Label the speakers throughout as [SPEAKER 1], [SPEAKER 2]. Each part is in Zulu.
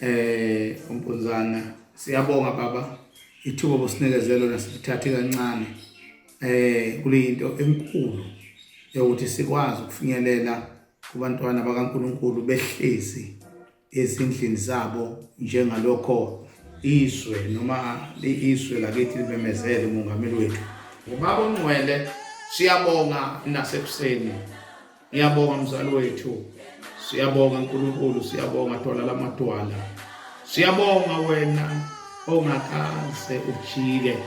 [SPEAKER 1] eh umpunzana siyabonga baba ithuba bosinekezelo nasithathe kancane eh kulento enkulu yokuthi sikwazi ukufinyelela kubantwana bakaNkuluNkulu behlezi ezindlini zabo njengalokho izwe noma izwe lakithi libemezele umongameli wethu ngubaba ongcwele siyabonga nasekuseni Ngiyabonga mzali wethu. Siyabonga uNkulunkulu, siyabonga thola lamadwala. Siyabonga wena ongakaze ujike.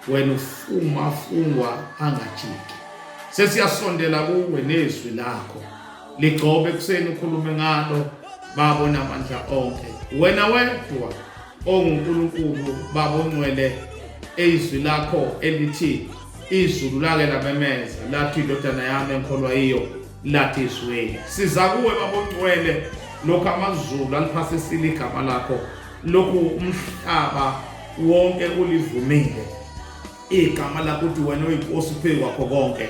[SPEAKER 1] Wena ufuma fungwa angajiki. Sesiyasondela kuwe nezwi lakho. Ligcobe kuseni ukhulume ngalo babo namandla onke. Wena wedwa onguNkulunkulu babo ngcwele ezwi lakho elithi izulu lake lamemeza lathi indodana yami engikholwa yiyo lathi izweli siza kuwe babongcwele lokhu amazulu aliphasisile igama lakho lokhu umhlaba wonke ulivumile igama lakho ukuthi wena uyinkosi phezu kwakho konke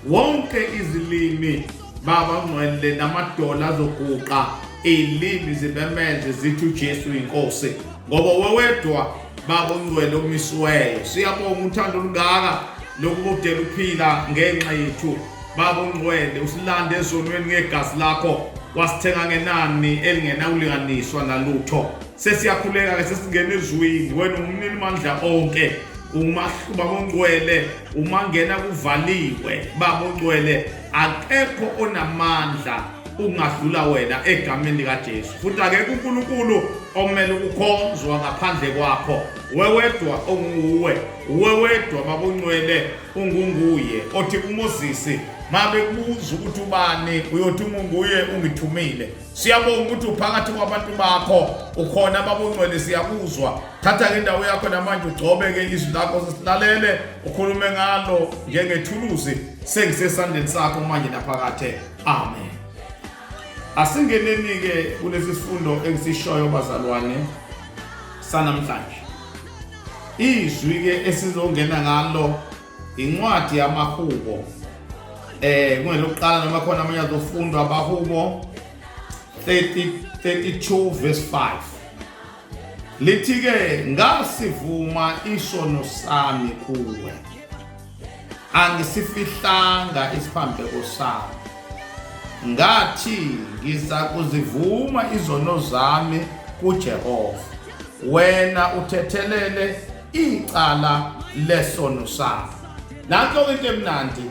[SPEAKER 1] wonke izilimi baba ngcwele namadola azoguqa ilimi zibemeze zithi uJesu inkosi ngoba wewedwa baba ongcwele omisiweyo siyabonga uthando olungaka lokubudela ukuphila ngenxa yethu baba ongcwele usilande ezonweni ngegazi lakho wasithenga ngenani elingenakulinganiswa nalutho sesiyakhuleka ke sesingena ezwini wena umnini mandla onke umahluba mongcwele umangena kuvaliwe baba ongcwele akekho onamandla ukungadlula wena egameni likaJesu futhi akekho uNkulunkulu omele ukukhonzwa ngaphandle kwakho wewedwa onguwe wewedwa babongcwele ungunguye othi uMoses mabe kubuza ukuthi ubani uyothi ungunguye ungithumile siyabonga ukuthi uphakathi kwabantu bakho ukhona babongcwele siyakuzwa thatha-ke indawo yakho namanje ugcobe-ke izwi lakho sesilalele ukhulume ngalo njengethuluzi sengisesandleni sakho manje naphakathe amen asingeneni-ke kulesi sifundo engisishoyo bazalwane sanamhlanje izwi-ke esizongena ngalo Incwadi yamahubo eh kungelokuqala noma khona amanye azofundwa abahubo 30 32 verse 5 lithi ke ngasivuma isono sami kuwe angisifihlanga isiphambeko sami ngathi ngiza kuzivuma izono zami kuJehova wena uthethelele icala lesono sabo nanto-ke into emnandi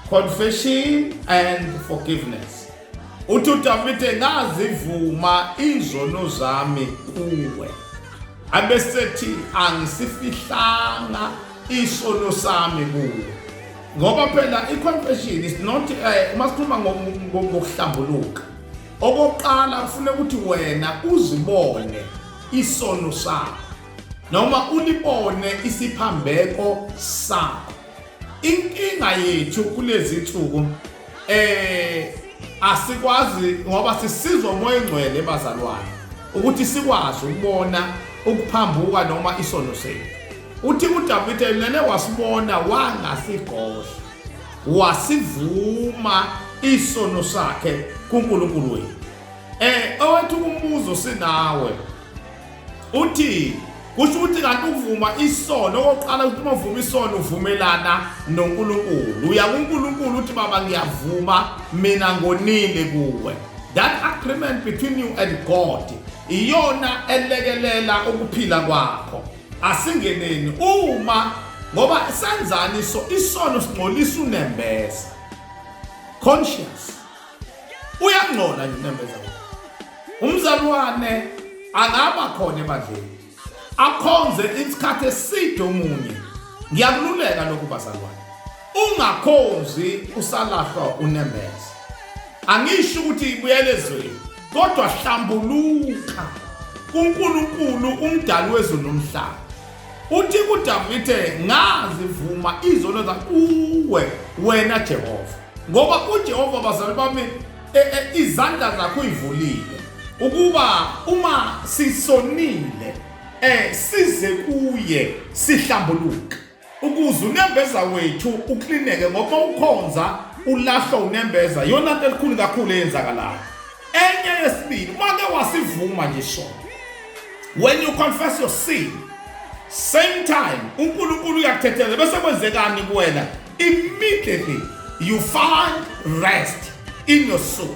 [SPEAKER 1] confession and forgiveness uthi udavide ngazivuma izono zami kuwe abesethi angisifihlanga isono sami kuwe ngoba phela i-confession is not eh, uma sikhuluma ngokuhlambuluka okokuqala kufuneka ukuthi wena uzibone isono sakho noma ulibone isiphambeko sakho inkinga yethu kulezi nsuku eh asikwazi ngoba sisizwa umoya engcwele bazalwane ukuthi sikwazi ukubona ukuphambuka noma isono sethu uthi uDavide yena wasibona wangasigosha wasivuma isono sakhe kuNkulunkulu wethu eh owethu umbuzo sinawe Uthi kusho ukuthi kanti ukuvuma isono okokuqala ukuthi uma uvuma isono uvumelana noNkulunkulu uya kuNkulunkulu uthi baba ngiyavuma mina ngonile kuwe that agreement between you and God iyona elekelela ukuphila kwakho asingeneni uma ngoba senzani so isono singcolisa unembeza conscious uyangcola nje unembeza umzalwane akaba khona ebandleni akhonze isikhathi eside omunye ngiyakululeka lokhu bazalwane ungakhonzi usalahlwa unembeza angisho ukuthi ibuyele ezweni kodwa hlambuluka kuNkulunkulu umdali wezulu nomhlaba Uthi kuDavide ngazivuma izono zakuwe wena Jehova ngoba uJehova bazali bami e, e, izandla zakho uyivulile ukuba uma sisonile eh size kuye sihlambuluke ukuze unembeza wethu uklineke ngoba ukhonza ulahlo unembeza yona into elikhulu kakhulu eyenzakalayo enye yesibili make wasivuma nje isono when you confess your sin same time unkulunkulu uyakuthethela bese kwenzekani kuwena immediately you find rest in your soul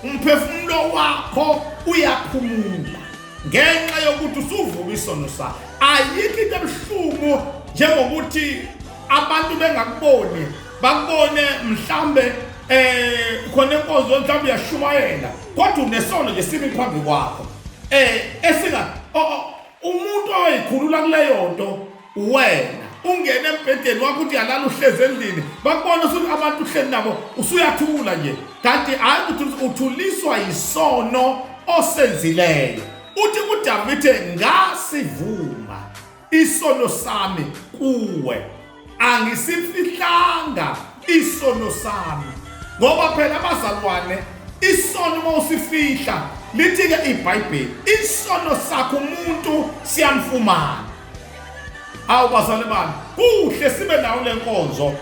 [SPEAKER 1] umphefumulo wakho uyaphumula ngenxa yokuthi usuvuka isono sakho ayikho into ebuhlungu njengokuthi abantu bengakuboni bakubone mhlambe eh khona inkonzo mhlawumbe uyashumayela kodwa unesono nje simi phambi kwakho eh esinga umuntu oyikhulula kuleyo nto wena ungene embhedeni wakho uthi yalala uhlezi endlini bakubona usuthi abantu uhleli nabo usuyathula nje kanti hayi ukuthi uthuliswa yisono osenzileyo uthi kudavide ngasivuma isono sami kuwe angisifihlanga isono sami ngoba phela abazalwane isono uma usifihla lithi-ke ibhayibheli isono sakho umuntu siyamfumana awu bazalwane bami kuhle sibe nawo le nkonzo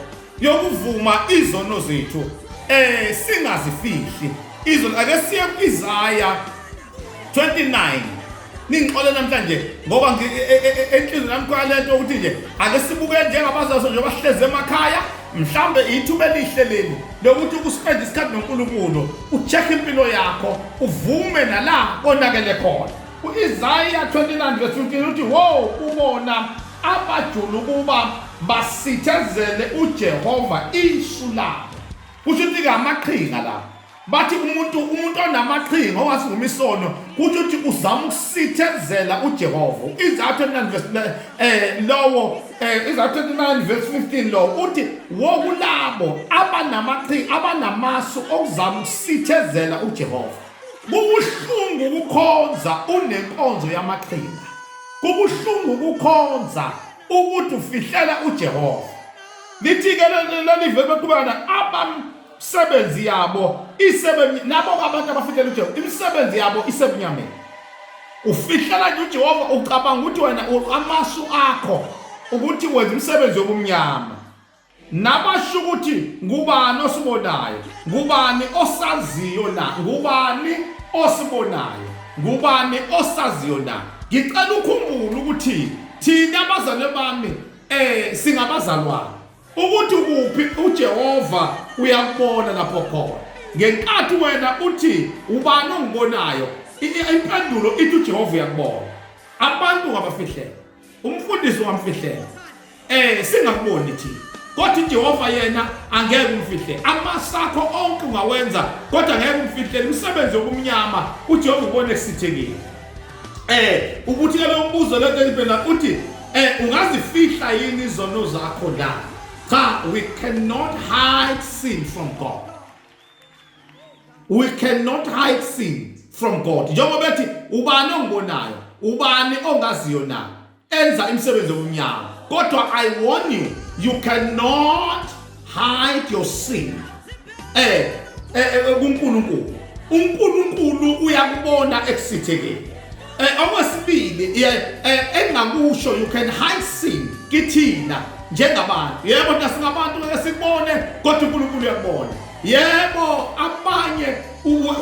[SPEAKER 1] yokuvuma izono zethu eh singazifihli izono ake siye kwizaya 29 ningixole namhlanje ngoba e, e, e, enhlizweni yami kwalento ukuthi nje ake sibuke njengabazaso nje bahleze emakhaya mhlambe ithuba elihle leli lokuthi uspend isikhathi noNkulunkulu ucheck impilo yakho uvume nala konakele khona uIsaiah 29 verse 15 uthi wo ubona abajulu kuba basithezele uJehova isu labo kusho ukuthi ke amaqhinga lapho bathi umuntu umuntu onamaqhinga owasivuma isono kuthi uthi uzama ukusithezela uJehova izathu 9 verse eh lowo eh izathu 9 verse 15 lo uthi wokulabo abanamaqhinga abanamasu okuzama ukusithezela uJehova kubuhlungu ukukhonza unenkonzo yamaqhinga kubuhlungu ukukhonza ukuthi ufihlela uJehova lithi ke leli vebe kubana abam imisebenzi yabo isebenzi labo abantu abafikela uJehova imisebenzi yabo isebunyameni ufihlela nje uJehova ucabanga ukuthi wena amasu akho ukuthi wenza imisebenzi yobumnyama nabasho ukuthi ngubani osibonayo ngubani osaziyo na ngubani osibonayo ngubani osaziyo na ngicela ukhumbule ukuthi thina abazalwane bami eh singabazalwane ukuthi kuphi uJehova uyakubona lapho khona ngenkathi wena uthi ubani ongibonayo impendulo ithi uJehova uyakubona abantu ngabafihlela umfundisi wamfihlela eh singakuboni thina kodwa uJehova yena angeke umfihle amasakho onke ungawenza kodwa ngeke umfihle imisebenzi yokumnyama uJehova ubone kusithekile eh ukuthi ke lo mbuzo lento elibheka uthi eh ungazifihla yini izono zakho la cha we cannot hide sin from god we cannot hide sin from god njengoba ethi ubani ongibonayo ubani ongaziyo na enza imisebenzi yomnyango kodwa i warn you you cannot hide your sin eh, eh, eh, eh kuNkulunkulu uNkulunkulu uyakubona ekusithekeni eh okwesibili engakusho you can hide sin kithina njengabantu yebo nasingabantu ngeke sikubone kodwa uNkulunkulu uyakubona yebo abanye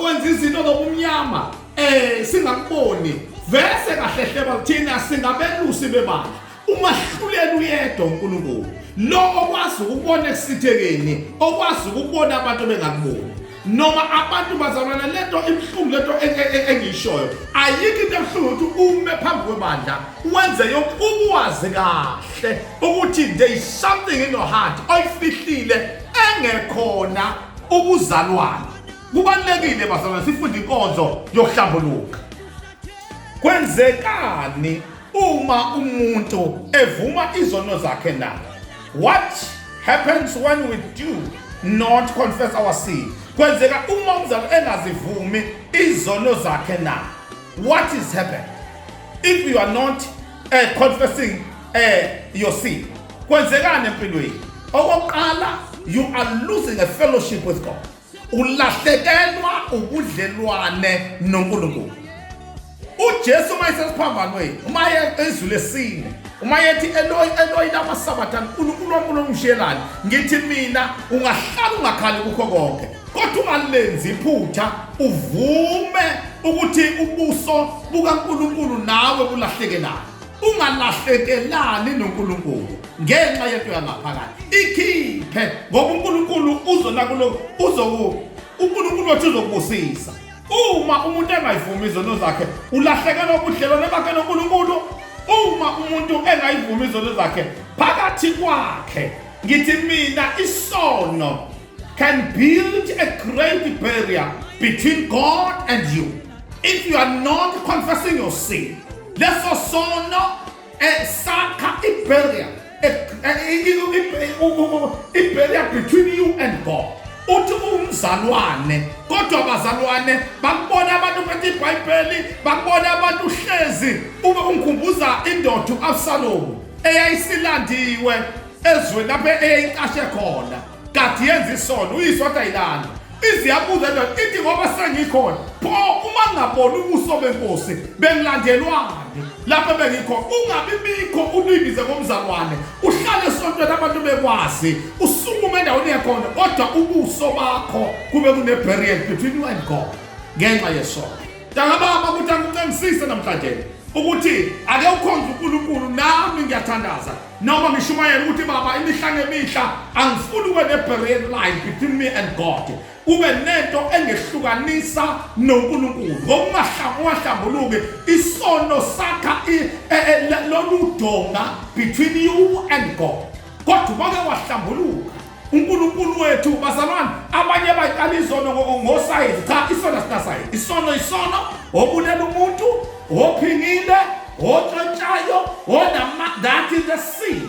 [SPEAKER 1] wenza izinto zobumnyama eh singakuboni vese kahlehleba kuthina singabelusi bebandla umahluleli uyedwa uNkulunkulu lo okwazi ukubona ekusithekeni okwazi ukubona abantu bengakuboni noma abantu bazalwana lento ibuhlungu lento e- e- e- engiyishoyo ayikho into ebuhlungu ukuthi ume phambi kwebandla wenze yonke ukwazi kahle ukuthi there is something in your heart oyifihlile engekhona ubuzalwane Kubalulekile bazalwane sifunde inkonzo yokuhlambuluka. Kwenzekani uma umuntu evuma izono zakhe na? What happens when we do not confess our sin? Kwenzeka uma umzali engazivumi izono zakhe na? What is happening if you are not uh, confessing uh, your sin? Kwenzekani empilweni? Okokuqala, you are losing a fellowship with God. ulahlekelwa ubudlelwane noNkulunkulu uJesu uma esesiphambanweni uma ezulu lesine uma yethi eloyi eloyi lamasabatha uNkulunkulu wankulu ongishiyelani ngithi mina ungahlala ungakhali kukho konke kodwa ungalenzi iphutha uvume ukuthi ubuso bukaNkulunkulu nawe bulahlekelana ungalahlekelani noNkulunkulu ngenxa yento yangaphakathi ikhiphe ngoba uNkulunkulu uzona kulo uzoku uNkulunkulu wathi uzokubusisa uma umuntu engayivumi izono zakhe ulahlekelwa ubudlelwane bakhe noNkulunkulu uma umuntu engayivumi izono zakhe phakathi kwakhe ngithi mina isono can build a great barrier between God and you if you are not confessing your sin leso sono and sakha ibarrier ibarrier between you and God uthi umzalwane kodwa abazalwane bakubona abantu phethe ibhayibheli bakubona abantu uhlezi ube ungikhumbuza indoda u-absalomu eyayisilandiwe ezweni lapho eyayicashe khona kade yenza isono uyise wathi ayilanda iziyabuza ndoda ithi ngoba sengikhona pho uma ngingaboni ubuso benkosi bengilandelwane lapho bengikhona ungabi bikho ulibize ngomzalwane uhlale esontweni abantu bekwazi usukume endaweni yakhona kodwa ubuso bakho kube kune-barrier between you and god ngenxa yesono ntangababa ukuthi angiqingisise namhlanje ukuthi ake ukhonza unkulunkulu nami ngiyathandaza Noma ngishumayela ukuthi baba imihla ngemihla angifuni ube ne-barrier line between me and God. Ube nento engehlukanisa noNkulunkulu. Ngokungahlambuluki isono sakha e, e, e, lolu donga between you and God. Kodwa ubake wahlambuluka uNkulunkulu wethu bazalwane abanye bayicala izono ngosayizi cha isono sinasayizi isono isono obulela umuntu ophingile otshontshayo onamandati the sea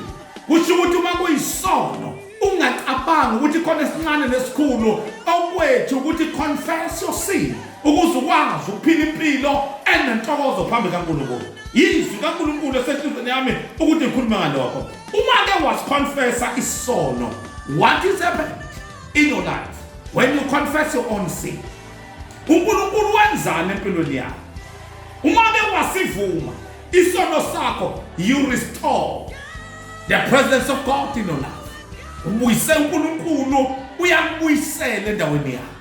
[SPEAKER 1] kusho ukuthi uma kuyisono ungacabanga ukuthi khona esincane nesikhulu okwethu ukuthi confess your sin ukuze ukwazi ukuphila impilo enentokozo phambi kaNkulunkulu yizwi kaNkulunkulu esenhlizweni yami ukuthi ngikhulume ngalokho Uma ke was confessa isono, what is happened in your life when you confess your own sin? uNkulunkulu wenzani empilweni yakho uma ke wasivuma isono sakho you restore the presence of God in your life ubuyise uNkulunkulu uyakubuyisela endaweni yakho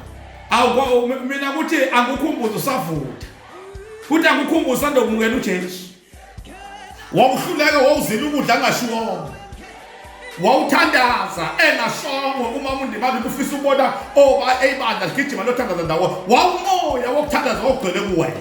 [SPEAKER 1] awu mina ukuthi akukhumbuza usavutha futhi akukhumbuza ndokumukela uJesu wawuhluleke wawuzila ukudla angashiwongo wawuthandaza engashongo uma undimali kufisa ubona oba oh, eyibandla ligijima lothandaza ndawo wawumoya wokuthandaza ogcwele kuwena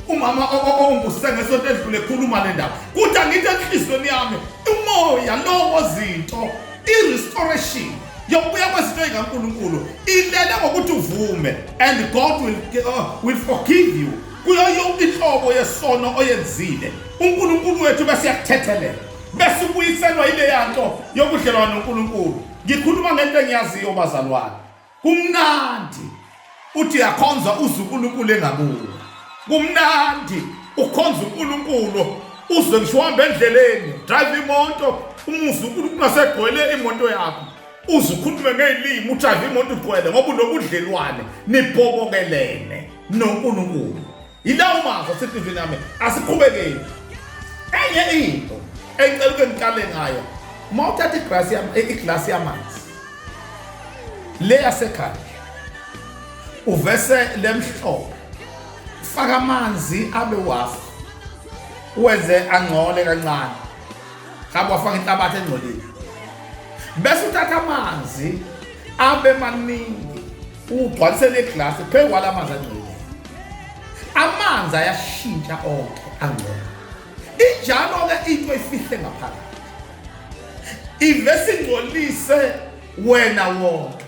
[SPEAKER 1] umama onguse ngesonto edlule ekhuluma le ndaba kuthi angithi enhliziyweni yami umoya lowo zinto i-restoration yokubuya kwezinto ey'kankulunkulu ilele ngokuthi uvume and god will, uh, will forgive you Kuyo yonke inhlobo yesono oyenzile, uNkulunkulu wethu bese uyakuthethelela, bese ubuyiselwa ileya nto yobudlelwano noNkulunkulu. Ngikhuluma ngento engiyaziyo bazalwane, kumnandi uthi uyakhonza uze uNkulunkulu engabuki. Kumnandi ukhonza uNkulunkulu uze ngisho uhamba endleleni drive imoto umuzi uNkulunkulu asegcwele imoto yakho uze ukhulume ngezilimi ujahe imoto ugcwele ngoba unobudlelwane nibhobokelene noNkulunkulu yilawo mazwi asehlizweni yami asiqhubekeni enye into engicela uke ngiqale ngayo uma uthatha iglasi iglasi yamanzi le yasekhaya uvese lemhlobo faka amanzi abe wafu wenze angcole kancane hamba wafaka inhlabathi engcolile bese uthatha amanzi abe maningi ugcwalise leglasi phezu kwala manzi angcolile amanzi ayashintsha onke angcono injalo-ke into efihle ngaphakathi ivese ingcolise wena wonke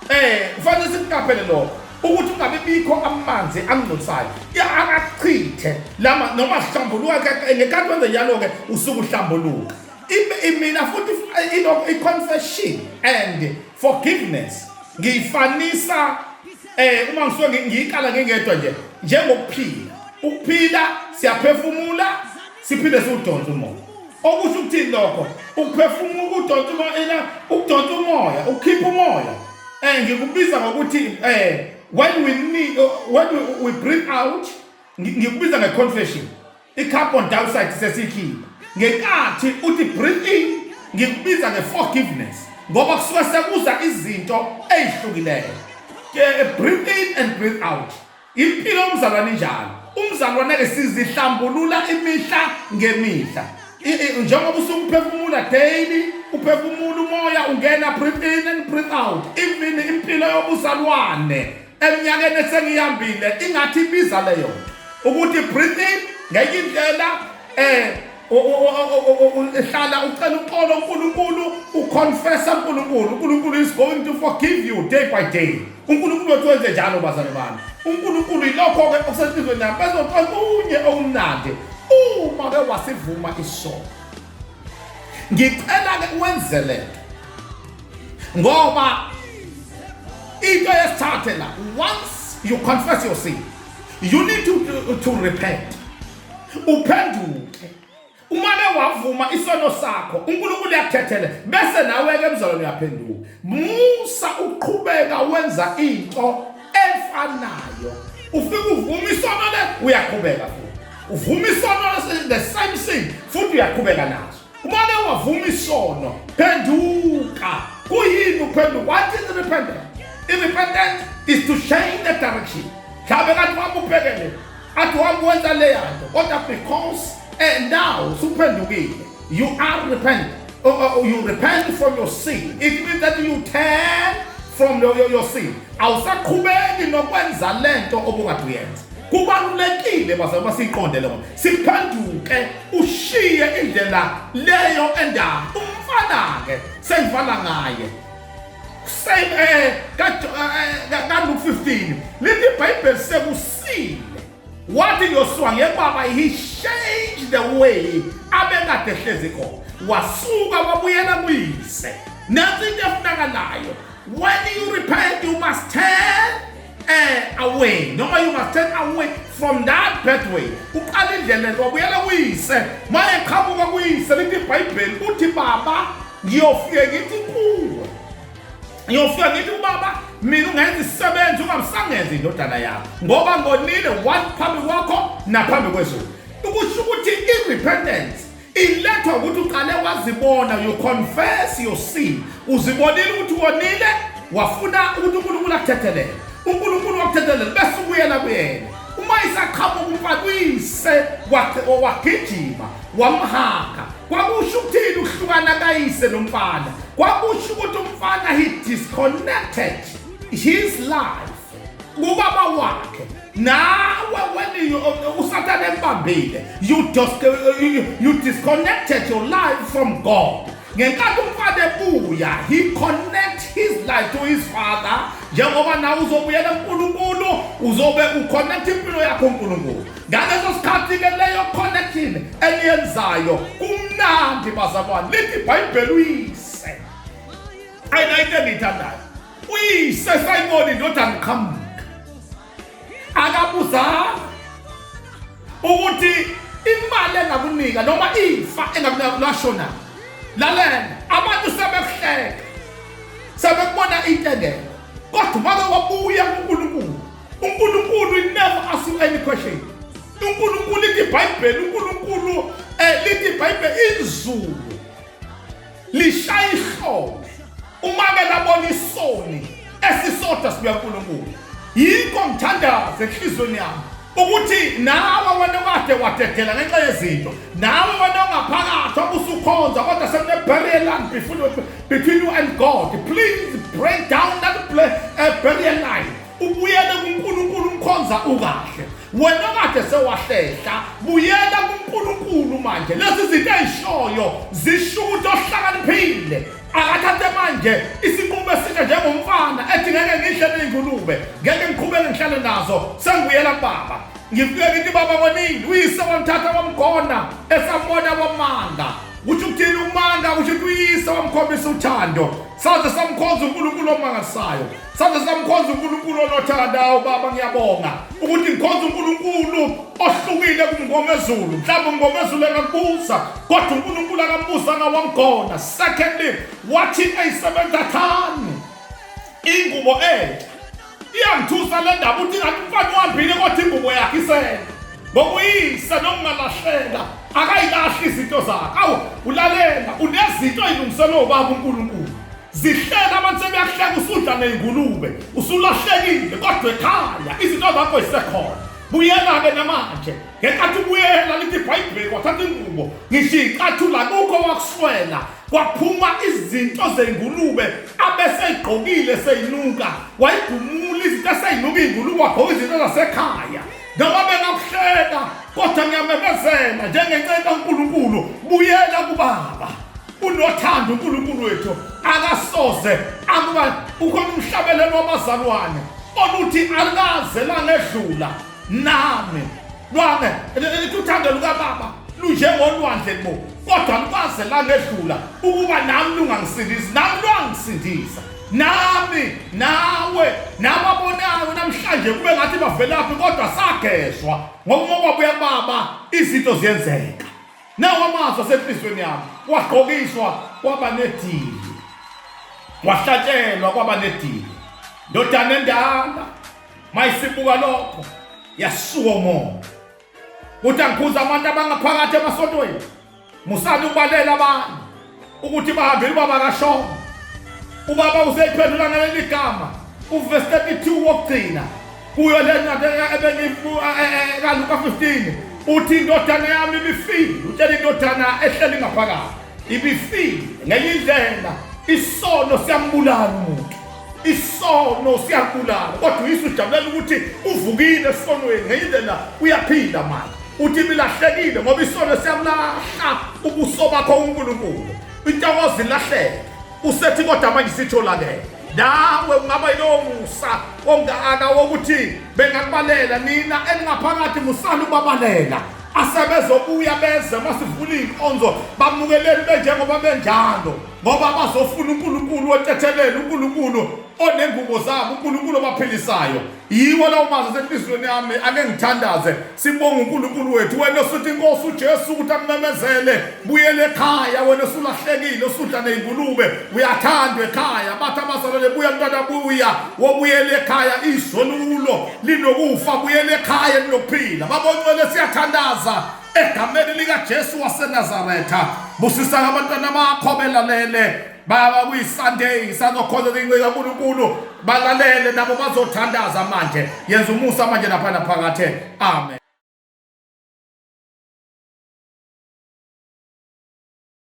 [SPEAKER 1] eh kufanele sikuqaphele lokho ukuthi ungabe bikho amanzi angcolisayo akachithe lama noma hlambuluka ngekati wenze njalo-ke usuke uhlambuluka imina futhi eh, i-confession and forgiveness ngiyifanisa eh uma ngisuke ngiyikala ngingedwa nje njengokuphila ukuphila siyaphefumula siphinde siwudonsa umoya okusho ukuthini lokho ukuphefumula ukudonsa umoya ena ukudonsa umoya ukukhipha umoya eh ngikubiza ngokuthi eh when we need when we, we breathe out ngikubiza ngeconfession I-carbon dioxide sesiyikhipha ngenkathi uthi breathe in ngikubiza nge-forgiveness ngoba kusuke sekuza izinto ey'hlukileyo breathe in and breathe out impilo yomzalwane njalo umzalwane-ke sizihlambulula imihla ngemihla njengoba usukuphefumula daily uphefumula umoya ungena breathe in and breathe out even impilo yobuzalwane eminyakeni esengiyambile ingathi ibiza leyo ukuthi breathe in ngenye indlela eh hlala ucela uxolo uNkulunkulu uconfessa uNkulunkulu uNkulunkulu is going to forgive you day by day uNkulunkulu uthi wenze njalo bazane bami uNkulunkulu ilokho ke okusenhlizweni yami bezoqala unye okumnandi uma ke wasivuma isono ngicela ke uwenze lento ngoba into yesithathe la once you confess your sin you need to, to, to repent uphenduke umane wavuma isono sakho uNkulunkulu uyakuthethela bese nawe ke mzalwane uyaphenduka musa uqhubeka wenza into efanayo ufike uvuma isono le uyaqhubeka futhi uvuma isono the same thing futhi uyaqhubeka naso umane wavuma isono phenduka kuyini uphenduka what is repentance irepentance is to change the direction mhlawumbe kanti wami ubhekele athi wami wenza leyanto kodwa because and now suphendukile You are repent. Oh, oh, oh, you repent from your sin. It means that you turn from your, your, your sin. Awusaqhubeki nokwenza lento obukade uyenza. Kubalulekile baze uma siqonde lokho. Siphenduke ushiye indlela leyo endaba. Umfana ke sengivala ngaye. Same eh ka eh, eh, ka 15. Lithi iBhayibheli sekusile wathi yosua ngebaba he changed the way abekade ehlezi khona wasuka wabuyela kuyise nansi into efunakalayo when you repent you must turn uh, away noma you must turn away from that pathway uqala indlela nto wabuyela kuyise ma eqhamuka kuyise lithi ibhayibheli uthi baba ngiyofike ngithi kuwe ngiyofika ngithi ubaba mina ungenza isisebenzi ungamsangenzi indodana yakho ngoba ngonile one phambi kwakho naphambi kwezulu ukusho ukuthi i-repentance ilethwa ukuthi uqale wazibona you confess your sin uzibonile ukuthi wonile wafuna ukuthi unkulunkulu akuthethelele unkulunkulu wakuthethelele bese ubuyela kuyena uma isaqhamuka umfana uyise wagijima wamhaga Kwakusho ukuthini ukuhlukana kayise nomfana? Kwakusho ukuthi umfana he disconnected his life kubaba wakhe nawe weniyo usathane embambile you just you disconnected your life from God ngenkathi umfana ebuya he connect his life to his father njengoba nawe uzobuyela kuNkulunkulu uzobe uconnect impilo yakho uNkulunkulu ngaleso sikhathi-ke leyo connection eniyenzayo kumnandi bazalwane lithi ibhayibheli uyise ayinayinto engiyithandayo uyise sayibona indodana iqhamuka akabuzanga ukuthi imali engakunika noma ifa engakunika lashona lalela abantu sebekuhleka sebekubona into engekho kodwa uma wabuya kunkulunkulu unkulunkulu will never ask you any question unkulunkulu lithi ibhayibheli unkulunkulu um lithi ibhayibheli izulu lishaya ihlobo umake labona isoni esisodwa sibuya nkulunkulu yikho ngithandaze enhliziyweni yami ukuthi nawe wena kade wadedela ngenxa yezinto nawe wena ongaphakathi obusukhonza kodwa sekuneburial line between you and god please break down that uh, burial line ubuyele kuNkulunkulu umkhonza ukahle wena kade sewahlehla buyela kuNkulunkulu manje lezi zinto ezishoyo zisho ukuthi ohlakaniphile akathathe manje isinqumo esinje njengomfana ethi ngeke ngidle ney'ngulube ngeke ngiqhubeke ngihlale nazo sengibuyela kubaba ngifike ngithi baba konini uyise wamthatha wamgona esambona wamanga uthi ukuthini umanga uthi kuyise wamkhombisa uthando saze samkhonza uNkulunkulu omangalisayo Saze samkhonza uNkulunkulu onothandawo baba ngiyabonga ukuthi ngikhonza uNkulunkulu ohlukile kumngomezulu mhlawumbe umngomezulu akakubuza kodwa uNkulunkulu akabuza ngawamgona secondly wathi ayisebenza thani ingubo entsha iyangithusa le ndaba ukuthi ngathi umfana uhambile kodwa ingubo yakhe isele ngokuyise nokungalahleka akayilahli izinto zakhe awu ulalela unezinto eyilungiselwe ubaba uNkulunkulu zihleka abantu sebeyahleka usudla ngey'ngulube usulahlekile kodwa ekhaya izinto zakho zisekhona buyela-ke namanje ngenkathi ubuyela lithi ibhayibheli wathatha ingubo ngisho iy'cathula kukho wakuswela kwaphuma izinto zey'ngulube abeseyigqokile seyinuka wayigumula izinto eseyinuka iy'ngulube wagqoka izinto zasekhaya noma bengakuhleka kodwa ngiyamemezela njengenceku kankulunkulu buyela kubaba unothando uNkulunkulu wethu akasoze akuba ukhona umhlabelelo wabazalwane oluthi alikaze langedlula nami lwane lithi uthando lukababa lunjengolwandle bo kodwa lukaze langedlula ukuba nami lungangisindisi nami lwangisindisa nami nawe nababonayo namhlanje kube ngathi bavelaphi kodwa sagezwa ngokumoba buyababa izinto ziyenzeka Nawo amazwi asenhliziyweni yami, wagqokiswa kwaba nedili, wahlatshelwa kwaba nedili. Ndodana endala, mayisibuka lokho, yasuka umoya. Uthi angikhuza abantu abangaphakathi emasontweni, musani ukubalela abanye. ukuthi bahambele ubaba kashongo ubaba useyiphendula ngaleli gama uvesi 32 wokugcina kuyo le ncwadi ebengiluka e, e, e, 15 uthi indodana yami ibifile utshela indodana ehleli ngaphakathi ibifile ngenye indlela isono siyambulala umuntu isono siyabulala kodwa uyise ujabulela ukuthi uvukile esonweni ngenye indlela uyaphila manje uthi bilahlekile ngoba isono siyabulahla ubuso bakho unkulunkulu intokozo ilahleke usethi kodwa manje sitholakele nawe ungaba yilowo musa ongaka wokuthi bengakubalela nina eningaphakathi musani ubabalela asebezobuya beze masivula iy'nkonzo bamukeleli benjengoba benjalo ngoba bazofuna uNkulunkulu otethelele uNkulunkulu onengubo zabo uNkulunkulu obaphilisayo yiwo lawo mazwi asenhliziyweni yami ake ngithandaze sibonga uNkulunkulu wethu wena osuthi inkosi uJesu ukuthi akumemezele buyele ekhaya wena osulahlekile osudla nezingulube uyathandwa ekhaya bathi abazalwane buya mntwana buya wobuyele ekhaya izolulo linokufa buyele ekhaya linokuphila baboncwele siyathandaza egameni likaJesu waseNazaretha busisa abantwana bakho belalele baba kuyisunday sazokhonza incika kaNkulunkulu balalele nabo bazothandaza manje yenza umusa manje lapha naphakathe amen